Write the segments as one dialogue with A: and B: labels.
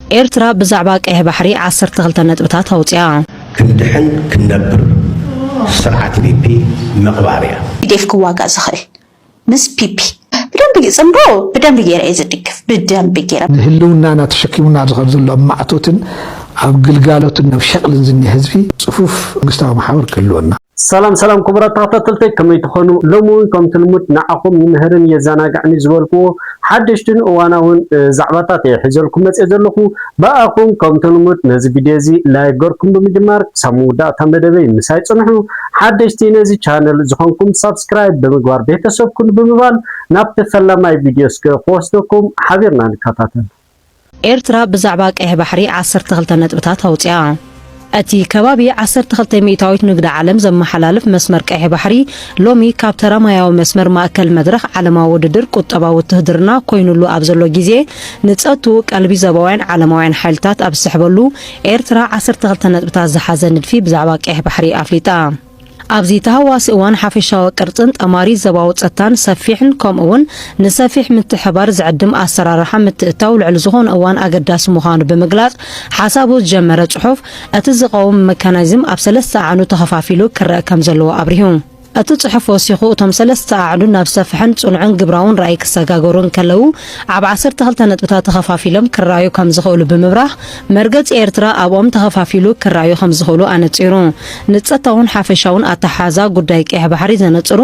A: ኤርትራ ብዛዕባ ቀይሕ ባሕሪ ዓሰርተ ክልተ ነጥብታት ኣውጺኣ። ክንድሕን
B: ክንነብር ስርዓት ፒፒ ምቅባር እያ። ቲዴፍ ክዋጋእ
C: ዝኽእል ምስ ፒፒ ብደንቢ ይጽምዶ ብደንቢ ጌረ እየ ዝድግፍ ብደንቢ ጌረ። ንህልውናና
D: ተሸኪሙና ኣብዚ ከም ዘሎ ኣብ ማዕቶትን ኣብ ግልጋሎትን ኣብ ሸቕልን ዝኒሀ ህዝቢ ጽፉፍ መንግስታዊ መሓውር ክህልወና፣ ሰላም ሰላም ክቡራት
E: ተኸታተልተይ ከመይ ትኾኑ ሎሚ እውን ከምቲ ልሙድ ንዓኹም ይምህርን የዘናግዕን እዩ ዝበልክዎ ሓደሽትን እዋናውን ዛዕባታት እየ ሒዘልኩም መፅየ ዘለኹ ብኣኹም ከምቲ ልሙድ ነዚ ቪድዮ እዚ ላይክ ገርኩም ብምጅማር ክሳብ መወዳእታ መደበይ ምሳይ ፅንሑ ሓደሽቲ ነዚ ቻነል ዝኾንኩም ሳብስክራይብ ብምግባር ቤተሰብ ኩኑ ብምባል ናብቲ ፈላማይ ቪድዮ እስከ ክወስደኩም ሓቢርና ንከታተል ኤርትራ
A: ብዛዕባ ቀይሕ ባሕሪ ዓሰርተ ክልተ ነጥብታት ኣውጺኣ። እቲ ከባቢ ዓሰርተ ክልተ ሚእታዊት ንግዲ ዓለም ዘመሓላልፍ መስመር ቀይሕ ባሕሪ ሎሚ ካብ ተራ ማያዊ መስመር ማእከል መድረኽ ዓለማዊ ውድድር ቁጠባዊ ውትህድርና ኮይኑሉ ኣብ ዘሎ ግዜ ንጸቱ ቀልቢ ዘባውያን ዓለማውያን ሓይልታት ኣብ ዝስሕበሉ ኤርትራ ዓሰርተ ክልተ ነጥብታት ዝሓዘ ንድፊ ብዛዕባ ቀይሕ ባሕሪ ኣፍሊጣ። ኣብዚ ተሃዋሲ እዋን ሓፈሻዊ ቅርጽን ጠማሪ ዘባዊ ጸታን ሰፊሕን ከምኡውን ንሰፊሕ ምትሕባር ዝዕድም ኣሰራርሓ ምትእታው ልዕሊ ዝኾነ እዋን ኣገዳሲ ምዃኑ ብምግላጽ ሓሳቡ ዝጀመረ ጽሑፍ እቲ ዝቐውም መካናዝም ኣብ ሰለስተ ኣዕኑ ተኸፋፊሉ ክረእ ከም ዘለዎ ኣብሪሁ። እቲ ጽሑፍ ወሲኹ እቶም ሰለስተ ኣዕኑ ናብ ሰፍሐን ጽኑዕን ግብራውን ራእይ ክሰጋገሩ እንከለዉ ኣብ ዓሰርተ ክልተ ነጥብታት ተኸፋፊሎም ክረኣዩ ከም ዝኽእሉ ብምብራህ መርገጺ ኤርትራ ኣብኦም ተኸፋፊሉ ክረኣዩ ከምዝኽእሉ ኣነጺሩ። ንጸታውን ሓፈሻውን ኣተሓሕዛ ጉዳይ ቀይሕ ባሕሪ ዘነጽሩ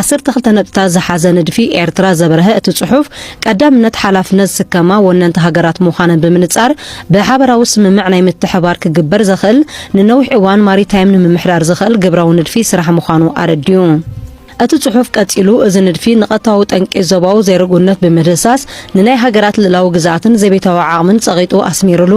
A: ዓሰርተ ክልተ ነጥብታት ዝሓዘ ንድፊ ኤርትራ ዘበርሀ እቲ ጽሑፍ፣ ቀዳምነት ሓላፍነት ዝስከማ ወነንቲ ሃገራት ምዃነን ብምንጻር ብሓበራዊ ስምምዕ ናይ ምትሕብባር ክግበር ዘኽእል ንነዊሕ እዋን ማሪታይም ንምምሕዳር ዘኽእል ግብራዊ ንድፊ ስራሕ ምዃኑ ኣረዲኡ። እቲ ጽሑፍ ቀጺሉ፣ እዚ ንድፊ ንቐታዊ ጠንቂ ዞባዊ ዘይርጉእነት ብምድህሳስ፣ ንናይ ሃገራት ልእላዊ ግዝኣትን ዘቤታዊ ዓቕምን ጸቒጡ ኣስሚሩሉ።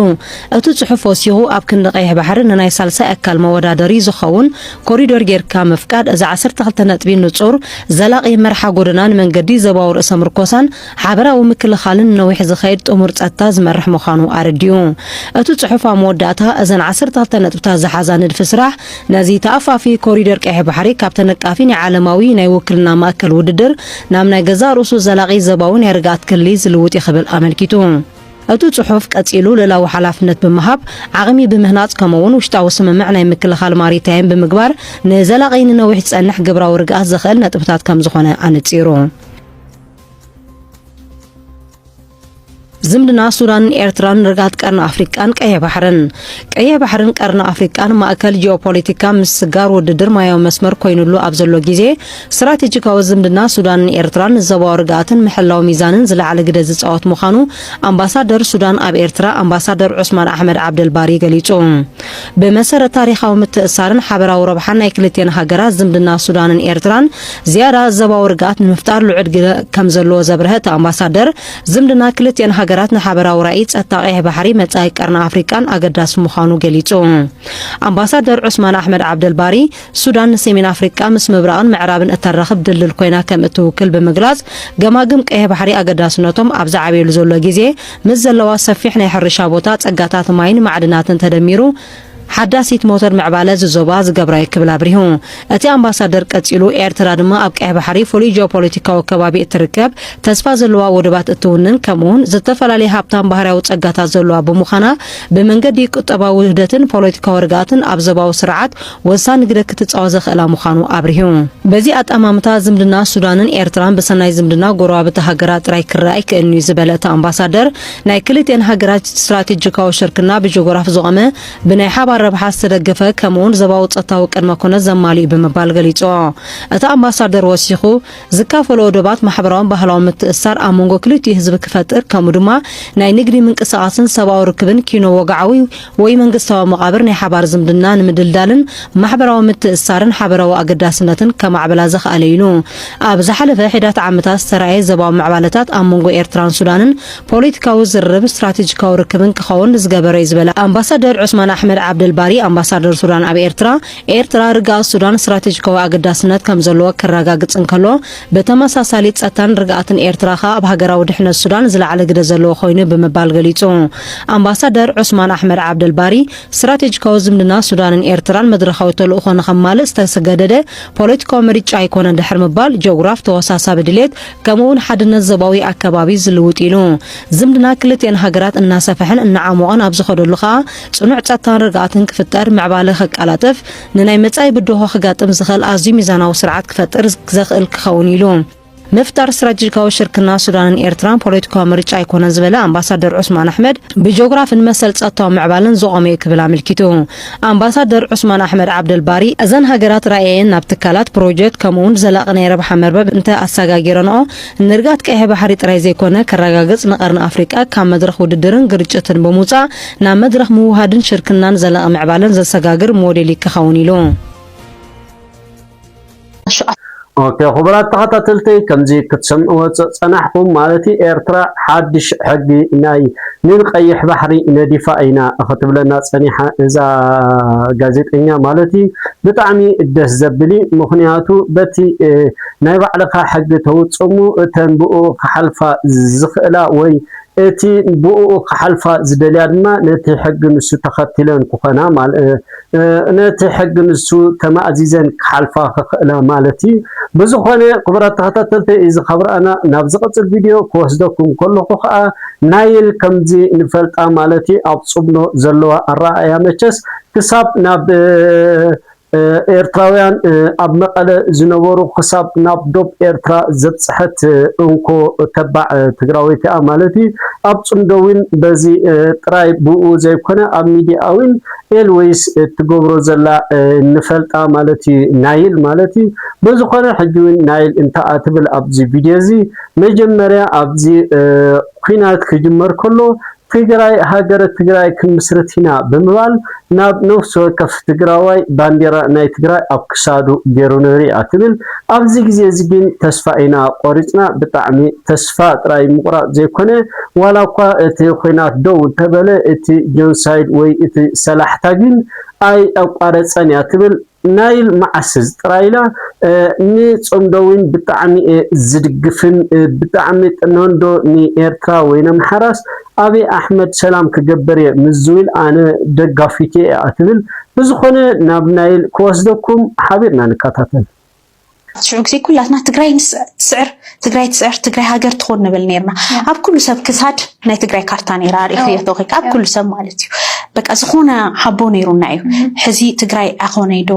A: እቲ ጽሑፍ ወሲኹ፣ ኣብ ክንዲ ቀይሕ ባሕሪ ንናይ ሳልሳይ ኣካል መወዳደሪ ዝኸውን ኮሪዶር ጌርካ ምፍቃድ፣ እዚ ዓሰርተ ክልተ ነጥቢ ንጹር፣ ዘላቒ መርሓ ጎደናን መንገዲ ዞባዊ ርእሰ ምርኮሳን ሓበራዊ ምክልኻልን ንነዊሕ ዝኸይድ ጥሙር ጸጥታ ዝመርሕ ምዃኑ ኣረዲኡ። እቲ ጽሑፍ ኣብ መወዳእታ፣ እዘን ዓሰርተ ክልተ ነጥብታት ዝሓዛ ንድፊ ስራሕ፣ ነዚ ተኣፋፊ ኮሪደር ቀይሕ ባሕሪ ካብ ተነቃፊ ናይ ዓለማዊ ናይ ውክልና ማእከል ውድድር ናብ ናይ ገዛእ ርእሱ ዘላቒ ዞባዊ ናይ ርግኣት ክሊ ዝልውጥ እዩ ክብል ኣመልኪቱ። እቲ ጽሑፍ ቀጺሉ ልእላዊ ሓላፍነት ብምሃብ፣ ዓቕሚ ብምህናጽ ከምኡ'ውን ውሽጣዊ ስምምዕ ናይ ምክልኻል ማሪታይም ብምግባር ንዘላቒ ንነዊሕ ዝጸንሕ ግብራዊ ርግኣት ዘኽእል ነጥብታት ከምዝኾነ ኣነጺሩ። ዝምድና ሱዳንን ኤርትራን ርግኣት ቀርኒ ኣፍሪቃን ቀይሕ ባሕርን ቀይሕ ባሕርን ቀርኒ ኣፍሪቃን ማእከል ጂኦፖለቲካ ምስስጋር ውድድር ማያዊ መስመር ኮይኑሉ ኣብ ዘሎ ግዜ ስትራቴጂካዊ ዝምድና ሱዳንን ኤርትራን ንዘባዊ ርግኣትን ምሕላው ሚዛንን ዝለዓለ ግደ ዝጻወት ምዃኑ ኣምባሳደር ሱዳን ኣብ ኤርትራ ኣምባሳደር ዑስማን ኣሕመድ ዓብደልባሪ ገሊጹ። ብመሰረት ታሪኻዊ ምትእስሳርን ሓበራዊ ረብሓን ናይ ክልቴን ሃገራት ዝምድና ሱዳንን ኤርትራን ዝያዳ ዘባዊ ርግኣት ንምፍጣር ልዑል ግደ ከም ዘለዎ ዘብረሀ እቲ ኣምባሳደር፣ ዝምድና ክልቲኤን ሃገራት ንሓበራዊ ራኢ ጸጥታ ቀይሕ ባሕሪ፣ መጻኢ ቀርኒ ኣፍሪቃን ኣገዳሲ ምዃኑ ገሊጹ። ኣምባሳደር ዑስማን ኣሕመድ ዓብደልባሪ፣ ሱዳን ንሰሜን ኣፍሪቃ ምስ ምብራቕን ምዕራብን እተራኽብ ድልድል ኮይና ከም እትውክል ብምግላጽ፣ ገማግም ቀይሕ ባሕሪ ኣገዳስነቶም ኣብ ዝዓበየሉ ዘሎ ግዜ፣ ምስ ዘለዋ ሰፊሕ ናይ ሕርሻ ቦታ፣ ጸጋታት ማይን ማዕድናትን ተደሚሩ፣ ሓዳሲት ሞተር ምዕባለ እዚ ዞባ ዝገብራ'ዩ ክብል ኣብሪሁ። እቲ ኣምባሳደር ቀጺሉ ኤርትራ ድማ ኣብ ቀይሕ ባሕሪ ፍሉይ ጂኦፖለቲካዊ ከባቢ እትርከብ፣ ተስፋ ዘለዋ ወደባት እትውንን ከምኡ'ውን ዝተፈላለየ ሃብታም ባህርያዊ ጸጋታት ዘለዋ ብምዃና ብመንገዲ ቁጠባዊ ውህደትን ፖለቲካዊ ርግኣትን ኣብ ዞባዊ ስርዓት ወሳኒ ግደ ክትጻወት ዘኽእላ ምዃኑ ኣብሪሁ። በዚ ኣጠማምታ ዝምድና ሱዳንን ኤርትራን ብሰናይ ዝምድና ጎረባብቲ ሃገራት ጥራይ ክረኣ ኣይክእልን'ዩ ዝበለ እቲ ኣምባሳደር፣ ናይ ክልቲኤን ሃገራት ስትራቴጂካዊ ሽርክና ብጂኦግራፍ ዝቖመ፣ ብናይ ሓባር ረብሓ ዝተደገፈ ከምኡ'ውን ዘባዊ ጸጥታዊ ቅድመ ኩነት ዘማልእ'ዩ ብምባል ገሊጹዎ። እቲ ኣምባሳደር ወሲኹ፣ ዝካፈልኦ ዶባት ማሕበራውን ባህላውን ምትእስሳር ኣብ መንጎ ክልቲኡ ህዝቢ ክፈጥር ከምኡ ድማ ናይ ንግዲ ምንቅስቓስን ሰብኣዊ ርክብን ኪኖ-ወግዓዊ ወይ መንግስታዊ መቓብር ናይ ሓባር ዝምድና ንምድልዳልን ማሕበራዊ ምትእስሳርን ሓበራዊ ኣገዳስነትን ከማዕብላ ዘኽኣለ ኢዩ ኢሉ። ኣብ ዝሓለፈ ሒዳት ዓመታት ዝተራእየ ዘባዊ ምዕባለታት ኣብ መንጎ ኤርትራን ሱዳንን ፖሊቲካዊ ዝርርብ ስትራቴጂካዊ ርክብን ክኸውን ዝገበረ ኢዩ ዝበለ ኣምባሳደር ዑስማን ኣሕመድ ዓብደልባሪ ኣምባሳደር ሱዳን ኣብ ኤርትራ፣ ኤርትራ ርግኣት ሱዳን ስትራቴጂካዊ ኣገዳስነት ከምዘለዎ ከራጋግጽ እንከሎ ብተመሳሳሊ ጸጥታን ርግኣትን ኤርትራ ከኣ ኣብ ሃገራዊ ድሕነት ሱዳን ዝለዓለ ግደ ዘለዎ ኮይኑ ብምባል ገሊጹ። ኣምባሳደር ዑስማን ኣሕመድ ዓብደልባሪ፣ ስትራቴጂካዊ ዝምድና ሱዳንን ኤርትራን መድረኻዊ ተልእኾ ንኸማልእ ዝተሰገደደ ፖለቲካዊ ምርጫ ኣይኮነን ድሕሪ ምባል፣ ጀኦግራፍ ተወሳሳቢ ድሌት ከምኡ'ውን ሓድነት ዞባዊ ኣከባቢ ዝልውጥ ኢሉ። ዝምድና ክልቲኤን ሃገራት እናሰፈሐን እናዓሞቐን ኣብ ዝኸደሉ ከኣ ጽኑዕ ጸጥታን ርግኣትን ክፍጠር፣ ምዕባለ ከቀላጥፍ፣ ንናይ መጻኢ ብድሆ ክጋጥም ዝኽእል ኣዝዩ ሚዛናዊ ስርዓት ክፈጥር ዘኽእል ክኸውን ኢሉ። ምፍጣር ስትራቴጂካዊ ሽርክና ሱዳንን ኤርትራን ፖለቲካዊ ምርጫ ኣይኮነን ዝበለ ኣምባሳደር ዑስማን ኣሕመድ ብጂኦግራፍን መሰል ጸጥታዊ ምዕባለን ዝቖመ'ዩ ክብል ኣመልኪቱ። ኣምባሳደር ዑስማን ኣሕመድ ዓብደልባሪ እዘን ሃገራት ራእየየን ናብ ትካላት፣ ፕሮጀክት ከምኡ'ውን ዘላቒ ናይ ረብሓ መርበብ እንተ ኣሰጋጊረንኦ ንርግኣት ቀይሕ ባሕሪ ጥራይ ዘይኮነ ከረጋግጽ ንቀርኒ ኣፍሪቃ ካብ መድረኽ ውድድርን ግርጭትን ብምውጻእ ናብ መድረኽ ምውህሃድን ሽርክናን ዘላቒ ምዕባለን ዘሰጋግር ሞዴል ይከኸውን ኢሉ።
E: ኦኬ ኩቡራት ተኸታተልተይ ከምዚ ክትሰምዕዎ ጸጸናሕኩም ማለት ኤርትራ ሓድሽ ሕጊ ናይ ን ቀይሕ ባሕሪ ነዲፋ ኢና ኽትብለና ጸኒሓ እዛ ጋዜጠኛ ማለት እዩ ብጣዕሚ ደስ ዘብል እዩ ምኽንያቱ በቲ ናይ ባዕልኻ ሕጊ ተውጽሙ እተን ብኡ ክሓልፋ ዝኽእላ ወይ እቲ ብኡኡ ክሓልፋ ዝደልያ ድማ ነቲ ሕጊ ንሱ ተኸቲለን ክኾና ነቲ ሕጊ ንሱ ተማእዚዘን ክሓልፋ ክኽእላ ማለት እዩ። ብዝኾነ ክቡራት ተኸታተልተይ እዚ ካብ ረኣና ናብ ዝቕጽል ቪድዮ ክወስደኩም ከለኹ ከኣ ናይል ከምዚ ንፈልጣ ማለት እዩ ኣብ ጽብኖ ዘለዋ ኣረኣእያ መቸስ ክሳብ ናብ ኤርትራውያን ኣብ መቐለ ዝነበሩ ክሳብ ናብ ዶብ ኤርትራ ዘብጽሐት እንኮ ተባዕ ትግራወይቲ እያ ማለት እዩ። ኣብ ጽምዶ ዊን በዚ ጥራይ ብኡ ዘይኮነ ኣብ ሚዲያ ዊን ኤል ወይስ እትገብሮ ዘላ ንፈልጣ ማለት እዩ ናይል ማለት እዩ። በዝኾነ ሕጂ ዊን ናይል እንተኣ ትብል ኣብዚ ቪድዮ እዚ መጀመርያ ኣብዚ ኩናት ክጅመር ከሎ ትግራይ ሃገረ ትግራይ ክንምስርት ኢና ብምባል ናብ ነፍሲ ወከፍ ትግራዋይ ባንዴራ ናይ ትግራይ ኣብ ክሳዱ ጌሩ ንሪኣ ትብል። ኣብዚ ግዜ እዚ ግን ተስፋ ኢና ቆሪፅና ብጣዕሚ ተስፋ ጥራይ ምቑራፅ ዘይኮነ ዋላ እኳ እቲ ኹናት ደው እንተበለ እቲ ጆንሳይድ ወይ እቲ ሰላሕታ ግን ኣይኣቋረፀን እያ ትብል። ናይል ማዓስዝ ጥራይላ ን ጸምዶ ዊን ብጣዕሚ እየ ዝድግፍን ብጣዕሚ ጥንንዶ ን ኤርትራ ወይ ነምሓራስ ኣብይ ኣሕመድ ሰላም ክገብር እየ ምስ ዝዊል ኣነ ደጋፊቱ እየ ኣትብል ብዝኮነ ናብ ናይል ክወስደኩም ሓቢርና ንካታተል። ሽዑ
C: ግዜ ኩላትና ትግራይ ትስዕር ትግራይ ትስዕር ትግራይ ሃገር ትኾን ንብል ነርና ኣብ ኩሉ ሰብ ክሳድ ናይ ትግራይ ካርታ ነራ ሪእክዮ ተኮይካ ኣብ ኩሉ ሰብ ማለት እዩ በቃ ዝኾነ ሓቦ ነይሩና እዩ ሕዚ ትግራይ ኣኾነይዶ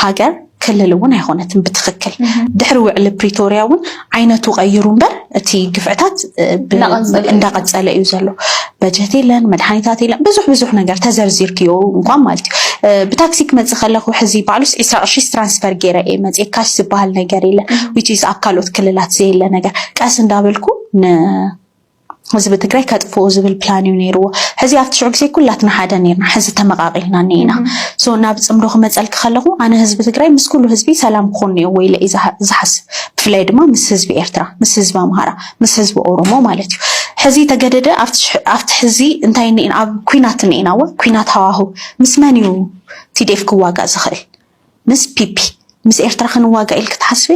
C: ሃገር ክልል እውን ኣይኮነትን ብትክክል ድሕሪ ውዕሊ ፕሪቶርያ እውን ዓይነቱ ቀይሩ እምበር እቲ ግፍዕታት እንዳቀፀለ እዩ ዘሎ። በጀት የለን፣ መድሓኒታት የለን፣ ብዙሕ ብዙሕ ነገር ተዘርዚርክዮ እንኳን ማለት እዩ። ብታክሲ ክመፅእ ከለኹ ሕዚ ባዕሉስ ዒስራ ቅርሺስ ትራንስፈር ገይረ እየ መፅኤ ካሽ ዝበሃል ነገር የለን። ዊችስ ኣብ ካልኦት ክልላት ዘየለ ነገር ቀስ እንዳበልኩ ህዝቢ ትግራይ ከጥፍኡ ዝብል ፕላን እዩ ነይርዎ። ሕዚ ኣብቲ ሽዑ ግዜ ኩላትና ሓደ ነርና፣ ሕዚ ተመቓቒልና እኒኢና። ሶ ናብ ፅምዶ ክመፀልኪ ከለኹ ኣነ ህዝቢ ትግራይ ምስ ኩሉ ህዝቢ ሰላም ክኾን እኒኦዎ ኢለ እዩ ዝሓስብ። ብፍላይ ድማ ምስ ህዝቢ ኤርትራ፣ ምስ ህዝቢ ኣምሃራ፣ ምስ ህዝቢ ኦሮሞ ማለት እዩ። ሕዚ ተገደደ ኣብቲ ሕዚ እንታይ እኒኢና ኣብ ኩናት እኒኢና እወ ኩናት ሃዋሁ ምስ መን እዩ ቲዴፍ ክዋጋእ ዝኽእል ምስ ፒፒ ምስ ኤርትራ ክንዋጋእ ኢልክ ትሓስቢ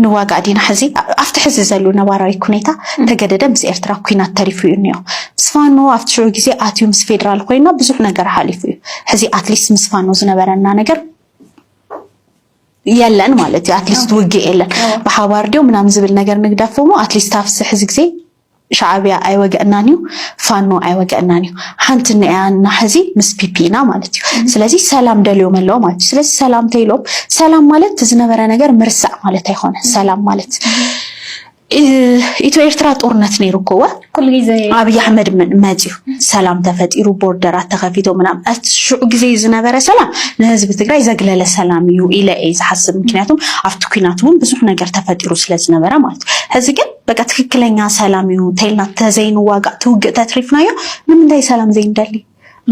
C: ንዋጋእ ዲና ሕዚ ኣብቲ ሕዚ ዘሉ ነባራዊ ኩኔታ ተገደደ ምስ ኤርትራ ኩናት ተሪፉ እዩ እኒኦ ምስ ፋኖ ኣብቲ ሽዑ ግዜ ኣትዩ ምስ ፌድራል ኮይና ብዙሕ ነገር ሓሊፉ እዩ ሕዚ ኣትሊስት ምስ ፋኖ ዝነበረና ነገር የለን ማለት እዩ ኣትሊስት ውግእ የለን ብሓባር ድዮ ምናምን ዝብል ነገር ንግደፎሞ ኣትሊስት ኣብቲ ሕዚ ግዜ ሻዓብያ ኣይወገእናን እዩ ፋኖ ኣይወገእናን እዩ ሓንቲ ንያ እና ሕዚ ምስ ፒፒ ኢና ማለት እዩ ስለዚ ሰላም ደልዮም ኣለዎ ማለት እዩ ስለዚ ሰላም ተይሎም ሰላም ማለት እቲ ዝነበረ ነገር ምርሳዕ ማለት ኣይኮነ ሰላም ማለት ኢትዮ ኤርትራ ጦርነት ነይሩ እኮ ወ ኩሉ ግዜ ኣብይ
F: ኣሕመድ
C: መፅዩ ሰላም ተፈጢሩ ቦርደራት ተኸፊቶ ምናም እቲ ሽዑ ግዜ ዝነበረ ሰላም ንህዝቢ ትግራይ ዘግለለ ሰላም እዩ ኢለ እየ ዝሓስብ ምክንያቱም ኣብቲ ኩናት እውን ብዙሕ ነገር ተፈጢሩ ስለዝነበረ ማለት እዩ ሕዚ ግን በቃ ትክክለኛ ሰላም እዩ እንተይልና ተዘይንዋጋእ ትውግእ ተትሪፍናዮ ንምንታይ ሰላም ዘይንደሊ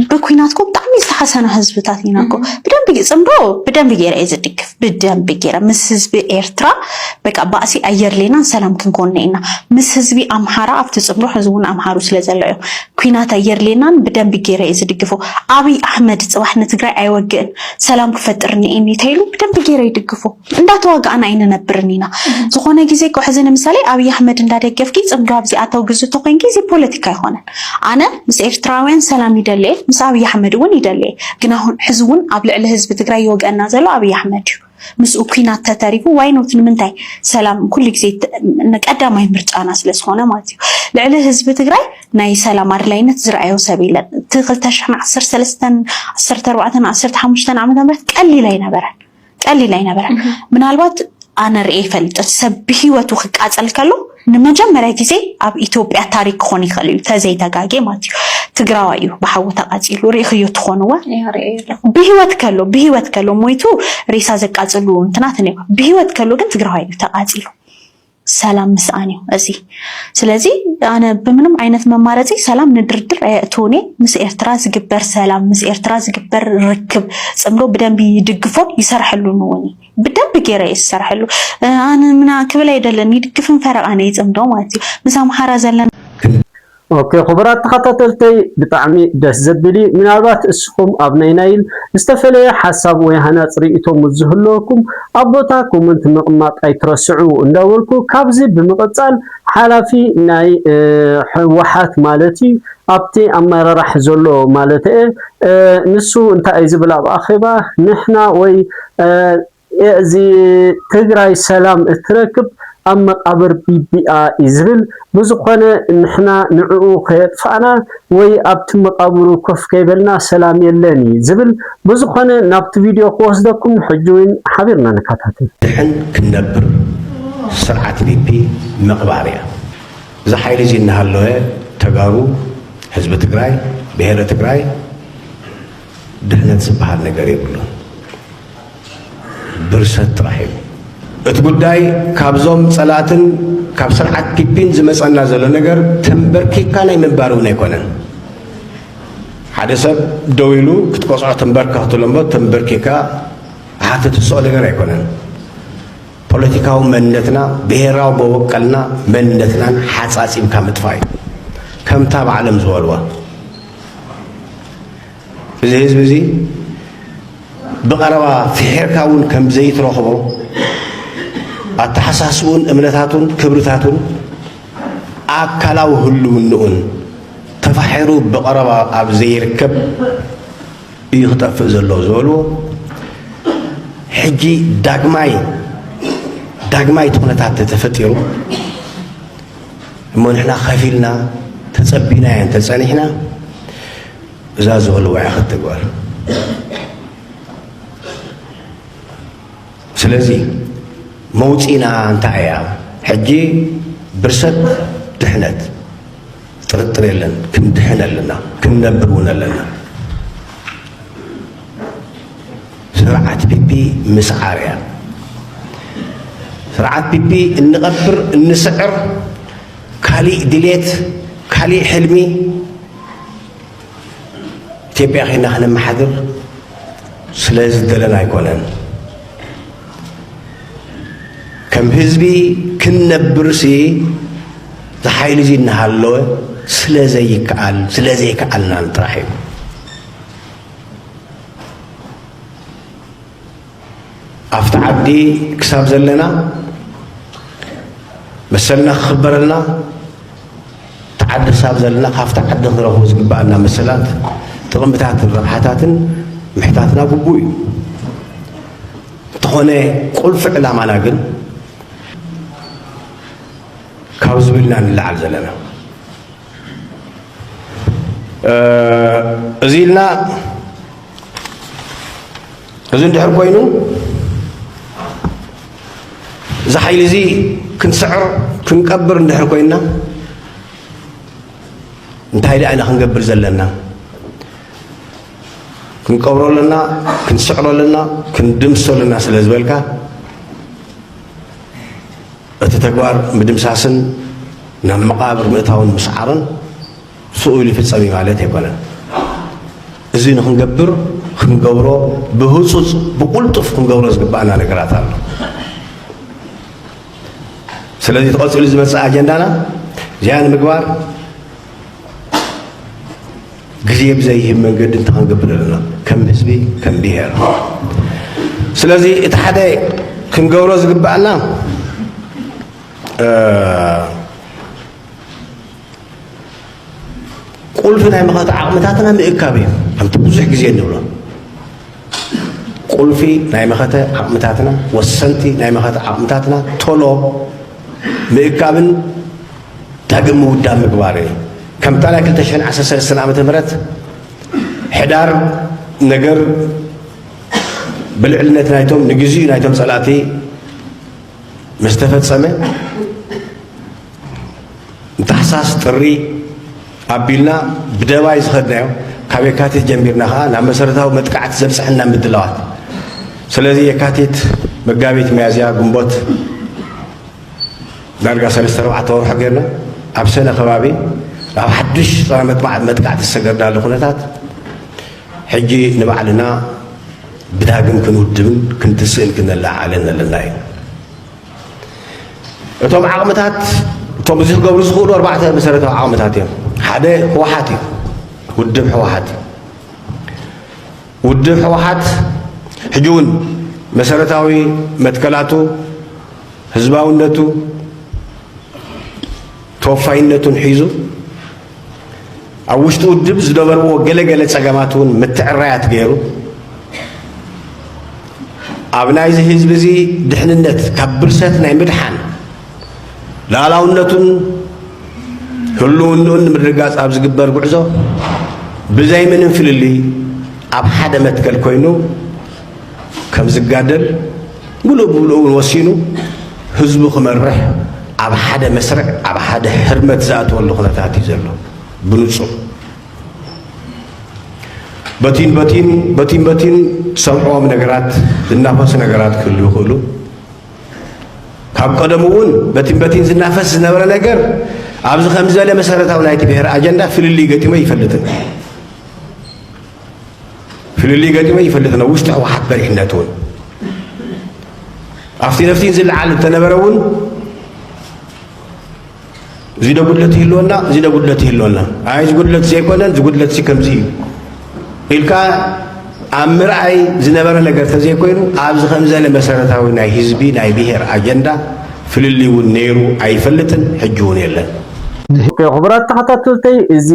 C: ብኩናት ኮ ብጣዕሚ ዝተሓሰና ህዝብታት ኢና ኮ ብደንብ ፅምዶ ብደንብ ገይረ እየ ዝድግፍ ብደንብ ገይረ ምስ ህዝቢ ኤርትራ በቃ ባእሲ ኣየድሌናን ሰላም ክንኮነ ኢና ምስ ህዝቢ ኣምሓራ ኣብቲ ፅምዶ ሕዚ እውን ኣምሃሩ ስለ ዘሎ እዮም ኩናት ኣየድሌናን ብደንብ ገይረ እየ ዝድግፎ ኣብይ ኣሕመድ ፅባሕ ንትግራይ ኣይወግእን ሰላም ክፈጥር ንኤኒ ተይሉ ብደንብ ገይረ ይድግፎ እንዳተዋጋእና ኣይንነብርን ኢና ዝኾነ ግዜ እኮ ሕዚ ንምሳሌ ኣብይ ኣሕመድ እንዳደገፍኪ ጽምዶ ኣብዚኣ ተውግዙ ተኮንኪ እዚ ፖለቲካ ኣይኾነን ኣነ ምስ ኤርትራውያን ሰላም ይደሊ እየ ምስ ኣብይ ኣሕመድ እውን ይደሊ እየ ግን ኣሁን ሕዚ እውን ኣብ ልዕሊ ህዝቢ ትግራይ ይወግኣና ዘሎ ኣብይ ኣሕመድ እዩ ምስኡ ኩናት ተተሪፉ ዋይኖት ንምንታይ ሰላም ኩሉ ግዜ ቀዳማይ ምርጫና ስለዝኾነ ማለት እዩ ልዕሊ ህዝቢ ትግራይ ናይ ሰላም ኣድላይነት ዝረኣዮ ሰብ የለን እቲ 213 14 15 ዓመተ ምህረት ቀሊል ኣይነበረን ቀሊል ኣይነበረ ምናልባት ኣነ ርኤ ይፈልጥ ሰብ ብሂወቱ ክቃፀል ከሎ ንመጀመርያ ግዜ ኣብ ኢትዮጵያ ታሪክ ክኾን ይኽእል እዩ ተዘይተጋጌ ማለት እዩ ትግራዋይ እዩ ብሓዊ ተቃፂሉ ርኢኽዮ ትኾንወ ብሂወት ከሎ ብሂወት ከሎ ሞይቱ ሬሳ ዘቃፅሉ እንትናት ነ ብሂወት ከሎ ግን ትግራዋይ እዩ ተቃፂሉ ሰላም ምስኣን እዩ እዚ ስለዚ ኣነ ብምንም ዓይነት መማረፂ ሰላም ንድርድር ኣየእትውን እየ ምስ ኤርትራ ዝግበር ሰላም ምስ ኤርትራ ዝግበር ርክብ ፅምዶ ብደንቢ ይድግፎን ይሰርሐሉን እውን ብደንቢ ገይረ እየ ዝሰርሐሉ ኣነ ምና ክብል ኣይደለን ይድግፍን ፈረቃን እየ ፅምዶ ማለት እዩ ምስ ኣምሓራ ዘለና ኦኬ
E: ኩቡራት ተኻታተልተይ ብጣዕሚ ደስ ዘብል እዩ ምናልባት እስኹም ኣብ ናይ ናይል ዝተፈለየ ሓሳብ ወይ ሃናጽ ሪኢቶ ምስ ዝህልወኩም ኣብ ቦታ ኮመንት ምቕማጥ ኣይትረስዑ እንዳበልኩ ካብዚ ብምቕጻል ሓላፊ ናይ ሕወሓት ማለት እዩ ኣብቲ ኣመራራሕ ዘሎ ማለተየ ንሱ እንታይ እዩ ዝብል ኣብ ኣኼባ ንሕና ወይ እዚ ትግራይ ሰላም እትረክብ ኣብ መቃብር ቢቢ'ያ እዩ ዝብል። ብዝኾነ ንሕና ንዕኡ ከየጥፋእና ወይ ኣብቲ መቃብሩ ኮፍ ከይበልና ሰላም የለን እዩ ዝብል። ብዝኾነ ናብቲ ቪድዮ ክወስደኩም ሕጂ ውን ሓቢርና ንከታተል። ድሐን ክንነብር
B: ስርዓት ፒፒ ምቅባር እያ። እዚ ሓይሊ እዚ እናሃለወ ተጋሩ ህዝቢ ትግራይ ብሄረ ትግራይ ድሕነት ዝበሃል ነገር የብሉን። ብርሰት ጥራሕ እዩ። እቲ ጉዳይ ካብዞም ጸላእትን ካብ ስርዓት ፒፒን ዝመጸና ዘሎ ነገር ተንበርኪካ ናይ ምንባር እውን ኣይኮነን። ሓደ ሰብ ደው ኢሉ ክትቆፅዖ ተንበርከኽ ትብሎ እምበር ተንበርኪካ ኣሓተ ትስኦ ነገር ኣይኮነን። ፖለቲካዊ መንነትና ብሄራዊ መወቀልና መንነትናን ሓፃፂምካ ምጥፋእ እዩ ከምታ ባዕሎም ዝበልዋ እዚ ህዝቢ እዚ ብቐረባ ፍሒርካ እውን ከም ዘይትረኽቦ ኣተሓሳስቡን እምነታቱን ክብርታቱን ኣካላዊ ህልውንኡን ተፋሒሩ ብቐረባ ኣብ ዘይርከብ እዩ ክጠፍእ ዘሎ ዝበልዎ ሕጂ ዳግማይ ዳግማይ እቲ ኩነታት ተፈጢሩ እሞ ንሕና ከፊልና ተጸቢናዮ እንተጸኒሕና እዛ ዝቕልወዐኸት ተግባር ስለዚ መውፂና እንታይ እያ ሕጂ ብርሰት ድሕነት ጥርጥር የለን ክንድሕን ኣለና ክንነብር እውን ኣለና ስርዓት ፒፒ ምስዓር እያ ስርዓት ፒፒ እንቐብር እንስዕር ካሊእ ድሌት ካሊእ ሕልሚ ኢትዮጵያ ከይና ከነመሓድር ስለ ዝደለን ኣይኮነን። ከም ህዝቢ ክንነብርሲ እዚ ሓይሊ እዚ እናሃለወ ስለ ዘይከኣል ስለ ዘይከኣልናን ጥራሕ እዩ። ኣብቲ ዓዲ ክሳብ ዘለና መሰልና ክኽበረልና እቲ ዓዲ ክሳብ ዘለና ካብቲ ዓዲ ክንረኽቦ ዝግባኣና መሰላት ጥቕምታትን ረብሓታትን ምሕታትና ግቡእ እዩ እንተኾነ ቁልፊ ዕላማና ግን ካብ ዝብልና ንለዓል ዘለና እዚ ኢልና እዚ እንድሕር ኮይኑ እዚ ሓይሊ እዚ ክንስዕር ክንቀብር እንድሕር ኮይና እንታይ ደኣ ኢና ክንገብር ዘለና ክንቀብሮ ኣለና ክንስዕሮ ኣለና ክንድምሶ ኣለና ስለ ዝበልካ እቲ ተግባር ምድምሳስን ናብ መቓብር ምእታውን ምስዓርን ስኡል ይፍጸም እዩ ማለት ኣይኮነን። እዚ ንክንገብር ክንገብሮ ብህጹጽ ብቁልጡፍ ክንገብሮ ዝግባእና ነገራት ኣሎ። ስለዚ ተቐጺሉ ዝመጽእ ኣጀንዳና እዚኣ ንምግባር ግዜ ብዘይህብ መንገዲ እንታይ ክንገብር ኣለና ከም ህዝቢ ከም ብሄር ስለዚ እቲ ሓደ ክንገብሮ ዝግባኣና ቁልፊ ናይ መኸተ ዓቕምታትና ምእካብ እዩ ከምቲ ብዙሕ ግዜ እንብሎ ቁልፊ ናይ መኸተ ዓቕምታትና ወሰንቲ ናይ መኸተ ዓቕምታትና ቶሎ ምእካብን ዳግም ምውዳብ ምግባር እየ። ከምታ ናይ ክልተ ሽሕን ዓሰርተ ሰለስተን ዓመተ ምህረት ሕዳር ነገር ብልዕልነት ናይቶም ንግዚኡ ናይቶም ጸላእቲ ምስ ተፈጸመ ታሕሳስ ጥሪ ኣቢልና ብደባይ ዝኸድናዮ ካብ የካቲት ጀሚርና ከዓ ናብ መሰረታዊ መጥቃዕቲ ዘብፅሐና ምድላዋት ስለዚ የካቲት መጋቢት መያዝያ ግንቦት ዳርጋ ሰለስተ ኣርባዕተ ወርሖ ጌርና ኣብ ሰነ ከባቢ ኣብ ሓድሽ ጸባ መጥባዕ መጥቃዕቲ ዝሰገርናሉ ኩነታት ሕጂ ንባዕልና ብዳግም ክንውድብን ክንትስእን ክነለዓዕልን ኣለና እዩ እቶም ዓቕምታት እቶም እዚ ክገብሩ ዝኽእሉ ኣርባዕተ መሰረታዊ ዓቕምታት እዮም ሓደ ህወሓት እዩ ውድብ ህወሓት እዩ ውድብ ህወሓት ሕጂ እውን መሰረታዊ መትከላቱ፣ ህዝባውነቱ፣ ተወፋይነቱን ሒዙ ኣብ ውሽጢ ውድብ ዝነበርዎ ገለ ገለ ፀገማት እውን ምትዕራያት ገይሩ ኣብ ናይዚ ህዝቢ እዚ ድሕንነት ካብ ብርሰት ናይ ምድሓን ልኣላውነቱን ህልውንኡን ንምርግጋጽ ኣብ ዝግበር ጉዕዞ ብዘይ ምንም ፍልልይ ኣብ ሓደ መትከል ኮይኑ ከም ዝጋደል ሙሉእ ብሙሉእ እውን ወሲኑ ህዝቡ ክመርሕ ኣብ ሓደ መስርዕ ኣብ ሓደ ሕርመት ዝኣተወሉ ኩነታት እዩ ዘሎ ብንጹር በቲን በቲን በቲን በቲን ሰምዕዎም ነገራት ዝናፈሱ ነገራት ክህሉ ይኽእሉ ካብ ቀደሙ እውን በቲን በቲን ዝናፈስ ዝነበረ ነገር ኣብዚ ከም ዝበለ መሰረታዊ ናይቲ ብሔር ኣጀንዳ ፍልልይ ገጢሞ ይፈልጥን ፍልልይ ገጢሞ ይፈልጥን ኣብ ውሽጢ ህወሓት በሪሕነት እውን ኣብቲ ነፍቲን ዝለዓል እተነበረ እውን እዚ ዶ ጉድለት ይህልወና እዚ ዶ ጉድለት ይህልወና ኣይ እዚ ጉድለት ዘይኮነን እዚ ጉድለት እዚ ከምዚ እዩ ኢልካ ኣብ ምርኣይ ዝነበረ ነገር ተዘይኮይኑ ኣብዚ ከምዘለ መሰረታዊ ናይ ህዝቢ ናይ ብሄር ኣጀንዳ ፍልልይ እውን ነይሩ ኣይፈልጥን ሕጂ እውን የለን ክቡራት
E: ተኸታተልተይ እዚ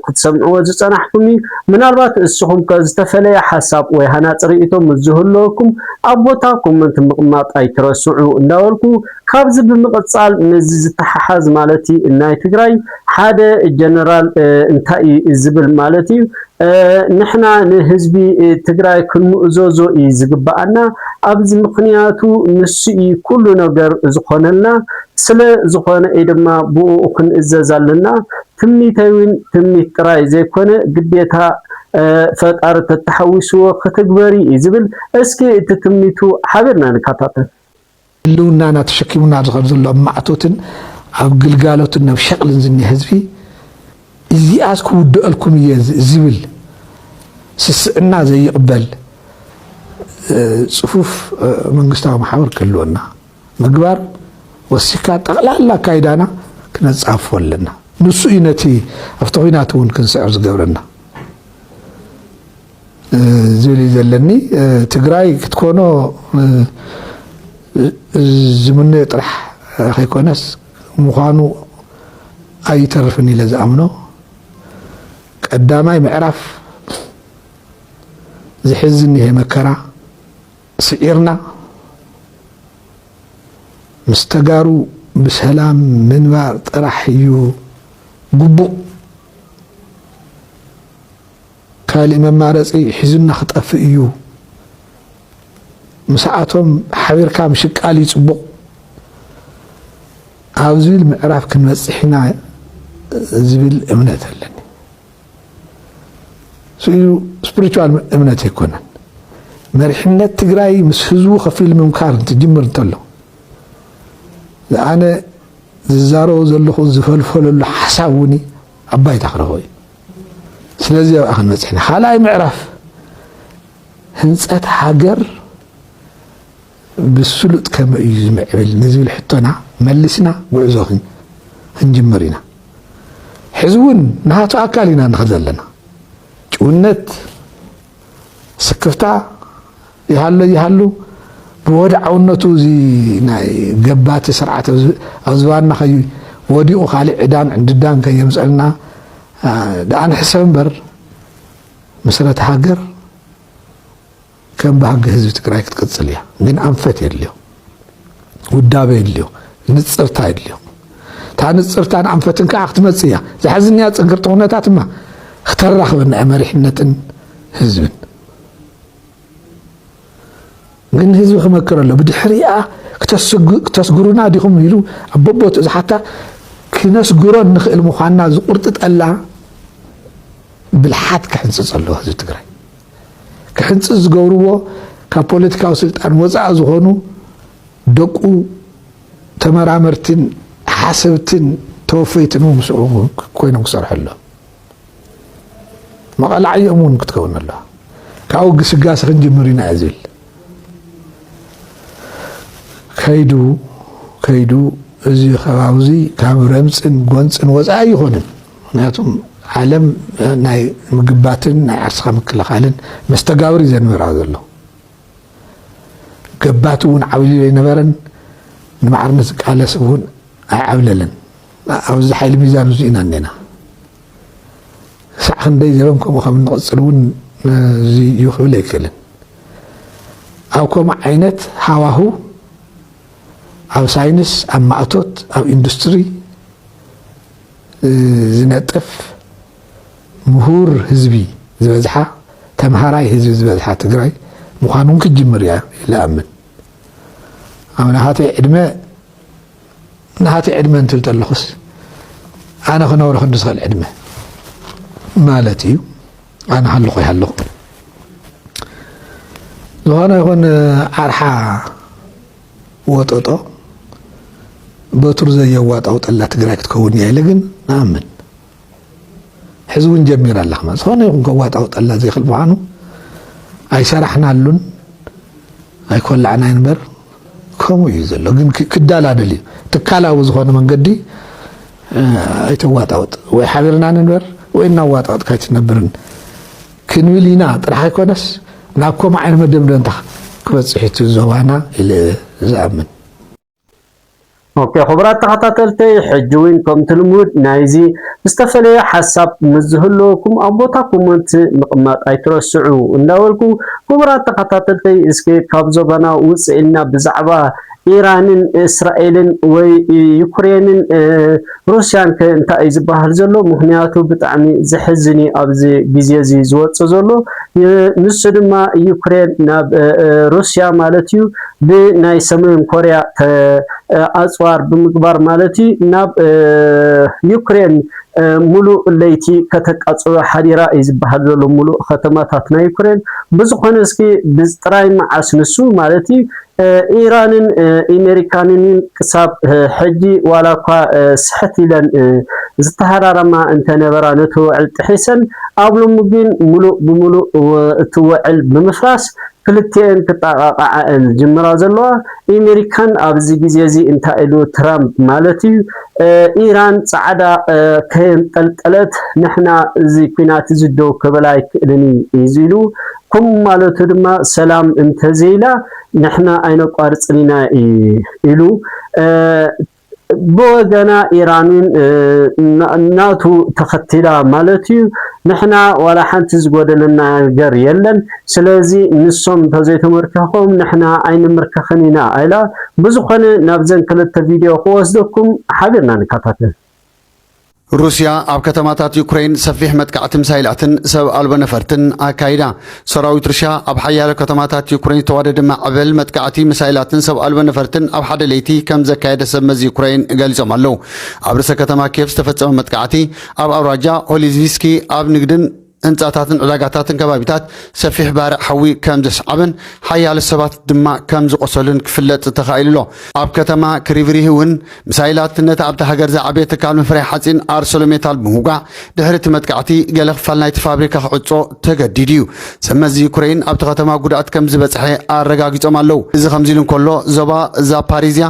E: ክትሰምዕዎ ዝፀናሕኩም እዩ ምናልባት እስኹም ከ ዝተፈለየ ሓሳብ ወይ ሃናፂ ርእይቶ ምስ ዝህልወኩም ኣብ ቦታ ኮመንት ምቕማጥ ኣይትረስዑ እንዳበልኩ ካብዚ ብምቅጻል ምስዚ ዝተሓሓዝ ማለት እዩ ናይ ትግራይ ሓደ ጀነራል እንታይ እዩ ዝብል ማለት እዩ ንሕና ንህዝቢ ትግራይ ክንምእዘዞ እዩ ዝግበኣና ኣብዚ ምኽንያቱ ንሱ እዩ ኩሉ ነገር ዝኾነልና ስለ ዝኾነ እዩ ድማ ብኡኡ ክንእዘዝ ኣለና ትምኒተይ እውን ትምኒት ጥራይ ዘይኮነ ግዴታ ፈጣሪ ተተሓዊስዎ ክትግበሪ እዩ ዝብል እስኪ እቲ ትምኒቱ ሓቢርና ንከታተል። ህልውናና
D: ተሸኪሙና ኣብ ዝኸድ ዘሎ ኣብ ማዕቶትን ኣብ ግልጋሎትን ናብ ሸቕልን ዝኒሀ ህዝቢ እዚኣስ ክውድኣልኩም እየ ዝብል ስስዕና ዘይቕበል ፅፉፍ መንግስታዊ ማሕበር ክህልወና ምግባር ወሲካ ጠቕላላ ኣካይዳና ክነፃፎ ኣለና ንሱ እዩ ነቲ ኣብቲ ኩናት እውን ክንስዕር ዝገብረና ዝብል እዩ ዘለኒ ትግራይ ክትኮኖ ዝምነዮ ጥራሕ ከይኮነስ ምዃኑ ኣይተርፍን ኢለ ዝኣምኖ ቀዳማይ ምዕራፍ ዝሕዝ እኒሀ መከራ ስዒርና ምስ ተጋሩ ብሰላም ምንባር ጥራሕ እዩ ግቡእ ካሊእ መማረፂ ሒዙና ክጠፍእ እዩ ምሰኣቶም ሓቢርካ ምሽቃል እዩ ፅቡቕ ኣብ ዝብል ምዕራፍ ክንበፅሕ ኢና ዝብል እምነት ኣለኒ ስኢሉ ስፕሪቹዋል እምነት ኣይኮነን መሪሕነት ትግራይ ምስ ህዝቡ ከፊሉ ምምካር እንትጅምር እንተሎ ዝኣነ ዝዛረቦ ዘለኹ ዝፈልፈለሉ ሓሳብ እውን ኣብ ባይታ ክረኽቦ እዩ ስለዚ ኣብኣ ክንበፅሕ ኢና ካልኣይ ምዕራፍ ህንፀት ሃገር ብስሉጥ ከመይ እዩ ዝምዕብል ንዝብል ሕቶና መልስና ጉዕዞ ክንጅምር ኢና ሕዚ እውን ናቱ ኣካል ኢና ንኸ ዘለና ጭውነት ስክፍታ ይሃሎ ይሃሉ ብወድዓውነቱ እዚ ናይ ገባቲ ስርዓት ኣብ ዝባንና ከይወዲቑ ካልእ ዕዳን ዕንድዳን ከየምፀልና ደኣ ንሕሰብ እምበር ምስረታ ሃገር ከም ባህጊ ህዝቢ ትግራይ ክትቅፅል እያ። ግን ኣንፈት የድልዮ። ውዳበ የድልዮ፣ ንጽርታ የድልዮ። እታ ንጽርታን ኣንፈትን ከኣ ክትመጽእ እያ። ዘሕዝንያ ጽንክርቲ ኩነታት እማ ክተራኽበና እያ መሪሕነትን ህዝብን። ግን ህዝቢ ክመክር ኣሎ ብድሕሪኣ ክተስግሩና ዲኹም ኢሉ ኣብ በቦትኡ ዝሓታ ክነስግሮ እንኽእል ምዃንና ዝቁርጥጠላ ብልሓት ክሕንፅፅ ኣለዎ ህዝቢ ትግራይ ክሕንጽጽ ዝገብርዎ ካብ ፖለቲካዊ ስልጣን ወጻኢ ዝኾኑ ደቁ ተመራመርትን ሓሰብትን ተወፈይትን እውን ምስኡ ኮይኖም ክሰርሑ ኣሎ መቐላዕዮም እውን ክትከውን ኣሎ ካብኡ ግስጋሴ ክንጅምር ኢና እዩ ዝብል ከይዱ ከይዱ እዚ ከባቢ እዚ ካብ ረምፅን ጎንፅን ወፃኢ ኣይኾንን ምክንያቱ ዓለም ናይ ምግባትን ናይ ዓርስኻ ምክልኻልን መስተጋብር እዩ ዘንበራ ዘሎ ገባቲ እውን ዓብዩ ዘይነበረን ንማዕርነት ዝቃለስ እውን ኣይዓብለለን ኣብዚ ሓይሊ ሚዛን እዚ ኢና እኔና ክሳዕ ክንደይ ዘበን ከምኡ ከም እንቕፅል እውን እዚ እዩ ክብል ኣይክእልን ኣብ ከምኡ ዓይነት ሃዋሁ ኣብ ሳይንስ ኣብ ማእቶት ኣብ ኢንዱስትሪ ዝነጥፍ ምሁር ህዝቢ ዝበዝሓ ተምሃራይ ህዝቢ ዝበዝሓ ትግራይ ምዃኑ እውን ክትጅምር እያ ኢለ እኣምን። ኣብ ናሃተይ ዕድመ ናሃተይ ዕድመ እንትብል ተለኹስ ኣነ ክነብሮ ክንዲ ዝኽእል ዕድመ ማለት እዩ። ኣነ ሃለኹ ይሃለኹ ዝኾነ ይኹን ዓርሓ ወጦጦ በትሩ ዘየዋጣው ጠላ ትግራይ ክትከውን እያ ኢለ ግን ንኣምን ሕዚ እውን ጀሚራ ኣላ ከማ ዝኾነ ይኹን ከዋጣው ጠላ ዘይክል ምዃኑ ኣይሰራሕናሉን ኣይኮላዕናይ ንበር ከምኡ እዩ ዘሎ ግን ክዳላደል እዩ ትካላዊ ዝኾነ መንገዲ ኣይተዋጣውጥ ወይ ሓቢርና ንንበር ወይ እናዋጣወጥካ ኣይትነብርን ክንብል ኢና ጥራሕ ኣይኮነስ ናብ ከምኡ ዓይነት መደምደምታ ክበፅሕ እቲ ዞባና ኢለ ዝኣምን።
E: ኦኬ ክቡራት ተኸታተልተይ ሕጂ ውን ከምቲ ልሙድ ናይዚ ዝተፈለየ ሓሳብ ምስ ዝህልወኩም ኣብ ቦታ ኮሞንት ምቕማጥ ኣይትረስዑ እንዳበልኩ ክቡራት ተኸታተልተይ እስከ ካብ ዞባና ውጽእ ኢልና ብዛዕባ ኢራንን እስራኤልን ወይ ዩክሬንን ሩስያን ከ እንታይ እዩ ዝበሃል ዘሎ? ምክንያቱ ብጣዕሚ ዘሕዝን እዩ ኣብዚ ግዜ እዚ ዝወጽእ ዘሎ። ንሱ ድማ ዩክሬን ናብ ሩስያ ማለት እዩ ብናይ ሰሜን ኮርያ ኣጽዋር ብምግባር ማለት እዩ ናብ ዩክሬን ሙሉእ ለይቲ ከተቃጽሎ ሓዲራ እዩ ዝበሃል ዘሎ ሙሉእ ከተማታት ናይ ዩክሬን። ብዝኾነ እስኪ ጥራይ መዓስ ንሱ ማለት እዩ ኢራንን ኢመሪካንን ክሳብ ሕጂ ዋላኳ ስሕት ኢለን ዝተሃራረማ እንተነበራ ነቲ ውዕል ጥሒሰን ኣብ ሎሚ ግን ምሉእ ብምሉእ እቲ ውዕል ብምፍራስ ክልቲኤን ክጣቓቓዓ እየን ዝጅምራ ዘለዋ። ኢመሪካን ኣብዚ ግዜ እዚ እንታይ ኢሉ ትራምፕ ማለት እዩ ኢራን ጻዕዳ ከየንጠልጠለት ንሕና እዚ ኲናት እዚ ደው ክብል ኣይክእልን እዩ ኢሉ ኩም ማለቱ ድማ ሰላም እንተዘይላ ንሕና ኣይነቋርፅን ኢና እዩ ኢሉ። ብወገና ኢራን እውን ናቱ ተኸቲላ ማለት እዩ። ንሕና ዋላ ሓንቲ ዝጎደለና ነገር የለን፣ ስለዚ ንሶም እንተዘይተመርኪኾም ንሕና ኣይንምርክኽን ኢና ኢላ። ብዝኾነ ናብዘን ክልተ ቪድዮ ክወስደኩም ሓቢርና ንከታተል።
F: ሩስያ ኣብ ከተማታት ዩክረይን ሰፊሕ መጥቃዕቲ ሚሳይላትን ሰብ ኣልቦ ነፈርትን ኣካይዳ። ሰራዊት ሩስያ ኣብ ሓያሎ ከተማታት ዩክረይን ዝተዋደደ ማዕበል መጥቃዕቲ ሚሳይላትን ሰብ ኣልቦ ነፈርትን ኣብ ሓደ ለይቲ ከም ዘካየደ ሰብ መዚ ዩክረይን ገሊጾም ኣለዉ። ኣብ ርእሰ ከተማ ኬቭ ዝተፈጸመ መጥቃዕቲ፣ ኣብ ኣውራጃ ኦሊዝቪስኪ ኣብ ንግድን ህንጻታትን ዕዳጋታትን ከባቢታት ሰፊሕ ባርዕ ሓዊ ከም ዘስዓበን ሓያለ ሰባት ድማ ከም ዝቖሰሉን ክፍለጥ ተኻኢሉ ኣሎ። ኣብ ከተማ ክሪቭሪህ እውን ሚሳይላት ነቲ ኣብታ ሃገር ዝዓበየ ትካል ምፍራይ ሓጺን ኣርሰሎሜታል ብምውጋዕ፣ ድሕሪ እቲ መጥቃዕቲ ገለ ክፋል ናይቲ ፋብሪካ ክዕጾ ተገዲዱ እዩ። ሰብመዚ ዩክረይን ኣብቲ ከተማ ጉድኣት ከም ዝበጽሐ ኣረጋጊጾም ኣለዉ። እዚ ከምዚ ኢሉ እንከሎ፣ ዞባ ዛፓሪዝያ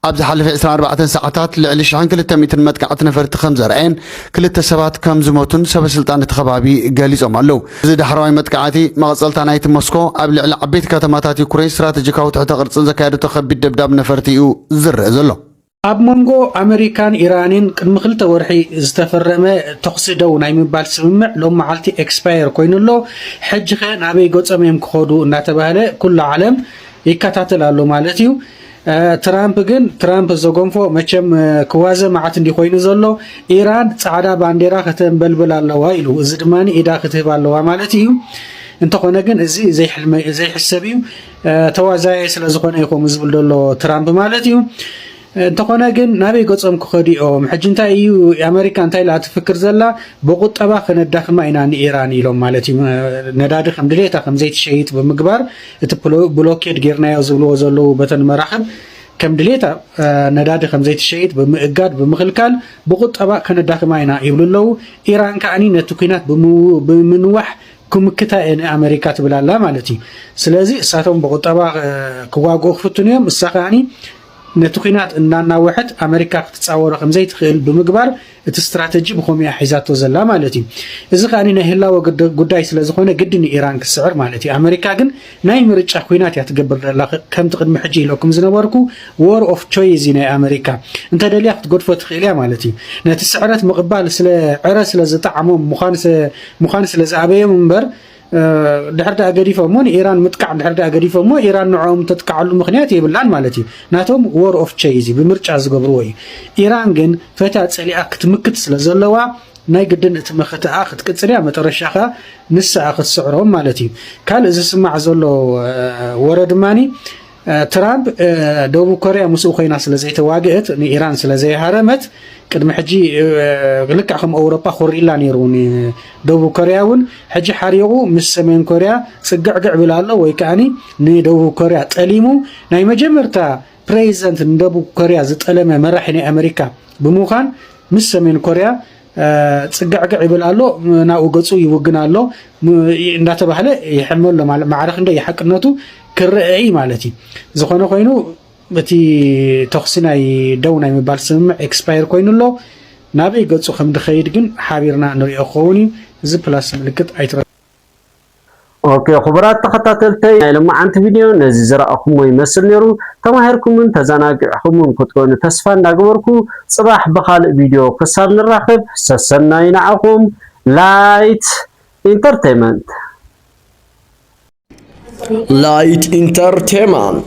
F: ኣብ ዝሓለፈ ዕስራን ኣርባዕተን ሰዓታት ልዕሊ ሽሕን ክልተ ሚእትን መጥቃዕቲ ነፈርቲ ከም ዘርኣየን ክልተ ሰባት ከም ዝሞቱን ሰበስልጣን እቲ ከባቢ ገሊጾም ኣለዉ። እዚ ዳሕረዋይ መጥቃዕቲ መቐጸልታ ናይቲ ሞስኮ ኣብ ልዕሊ ዓበይቲ ከተማታት ዩክረይን ስትራተጂካዊ ትሕተ ቅርጺ ዘካየደቶ ከቢድ ደብዳብ ነፈርቲ እዩ ዝርእ ዘሎ። ኣብ መንጎ
G: ኣመሪካን ኢራንን ቅድሚ ክልተ ወርሒ ዝተፈረመ ተኹሲ ደው ናይ ምባል ስምምዕ ሎም መዓልቲ ኤክስፓየር ኮይኑ ኣሎ። ሕጂኸ ናበይ ገጾም እዮም ክኸዱ እናተባህለ ኩሉ ዓለም ይከታተል ኣሎ ማለት እዩ። ትራምፕ ግን ትራምፕ ዘጎንፎ መቸም ክዋዘ መዓት እንዲ ኮይኑ ዘሎ ኢራን ጻዕዳ ባንዴራ ከተንበልብል ኣለዋ ኢሉ እዚ ድማ ኢዳ ክትህብ ኣለዋ ማለት እዩ እንተኾነ ግን እዚ ዘይሕሰብ እዩ ተዋዛየ ስለ ዝኾነ እዩ ከምኡ ዝብል ዘሎ ትራምፕ ማለት እዩ እንተኾነ ግን ናበይ ገጾም ክኸዱ እዮም ሕጂ እንታይ እዩ ኣመሪካ እንታይ ኢላ ትፍክር ዘላ ብቁጠባ ከነዳኽማ ኢና ንኢራን ኢሎም ማለት እዩ ነዳዲ ከም ድሌታ ከም ዘይትሸይጥ ብምግባር እቲ ብሎኬድ ጌርናዮ ዝብልዎ ዘለዉ በተን መራኽብ ከም ድሌታ ነዳዲ ከም ዘይትሸይጥ ብምእጋድ ብምኽልካል ብቁጠባ ከነዳኽማ ኢና ይብሉ ኣለዉ። ኢራን ከዓኒ ነቲ ኩናት ብምንዋሕ ክምክታ እየ ንኣመሪካ ትብል ኣላ ማለት እዩ። ስለዚ እሳቶም ብቁጠባ ክዋግኡ ክፍትኑ እዮም እሳ ከዓኒ ነቲ ኲናት እናናወሐት ኣመሪካ ክትጻወሮ ከም ዘይትኽእል ብምግባር እቲ ስትራተጂ ብኸምኡ እያ ሒዛቶ ዘላ ማለት እዩ። እዚ ከኣ ናይ ህላወ ጉዳይ ስለ ዝኾነ ግድን እዩ ኢራን ክትስዕር ማለት እዩ። ኣመሪካ ግን ናይ ምርጫ ኲናት እያ ትገብር ዘላ። ከምቲ ቅድሚ ሕጂ ኢለኩም ዝነበርኩ ዎር ኦፍ ቾይዝ እዩ ናይ ኣመሪካ። እንተደልያ ክትገድፎ ትኽእል እያ ማለት እዩ። ነቲ ስዕረት ምቕባል ስለ ዕረ ስለ ዝጠዓሞም ምዃን ስለ ዝኣበዮም እምበር ድሕር ድኣ ገዲፎሞ ንኢራን ምጥቃዕ ድሕር ድኣ ገዲፎሞ ኢራን ንዕኦም ተጥቃዓሉ ምክንያት የብላን ማለት እዩ ናቶም ዎር ኦፍ ቸይዝ ብምርጫ ዝገብርዎ እዩ ኢራን ግን ፈትያ ጸሊኣ ክትምክት ስለ ዘለዋ ናይ ግድን እቲ መኸተኣ ክትቅጽል እያ መጠረሻ ከኣ ንስኣ ክትስዕሮም ማለት እዩ ካልእ ዝስማዕ ዘሎ ወረ ድማኒ ትራምፕ ደቡብ ኮርያ ምስኡ ኮይና ስለ ዘይተዋግእት ንኢራን ስለ ዘይሃረመት ቅድሚ ሕጂ ልክዕ ከም ኣውሮጳ ኮሪላ ነይሩ ደቡብ ኮርያ እውን ሕጂ ሓሪቑ ምስ ሰሜን ኮርያ ፅግዕግዕ ብል ኣሎ ወይ ከዓኒ ንደቡብ ኮርያ ጠሊሙ ናይ መጀመርታ ፕሬዚደንት ንደቡብ ኮርያ ዝጠለመ መራሒ ናይ ኣሜሪካ ብምዃን ምስ ሰሜን ኮርያ ፅግዕግዕ ይብል ኣሎ ናብኡ ገፁ ይውግን ኣሎ እንዳተባህለ ይሕመ ኣሎ ማለት ማዕረ ክንደይ ሓቅነቱ ክረአ እዩ ማለት እዩ ዝኾነ ኮይኑ እቲ ተኽሲ ናይ ደው ናይ ምባል ስምምዕ ኤክስፓየር ኮይኑ ኣሎ ናበይ ገፁ ከም ድኸይድ ግን ሓቢርና ንሪኦ ክኸውን እዩ እዚ ፕላስ ምልክት ኣይትረ
E: ኦኬ ክቡራት ተኸታተልተይ ናይ ለማዓንቲ ቪድዮ ነዚ ዝረኣኹሞ ይመስል ነይሩ ተማሂርኩምን ተዘናጊዕኹምን ክትኮኑ ተስፋ እንዳገበርኩ ፅባሕ ብኻልእ ቪድዮ ክሳብ ንራኸብ ሰሰናዩ ንዓኹም ላይት ኢንተርቴመንት ላይት ኢንተርቴመንት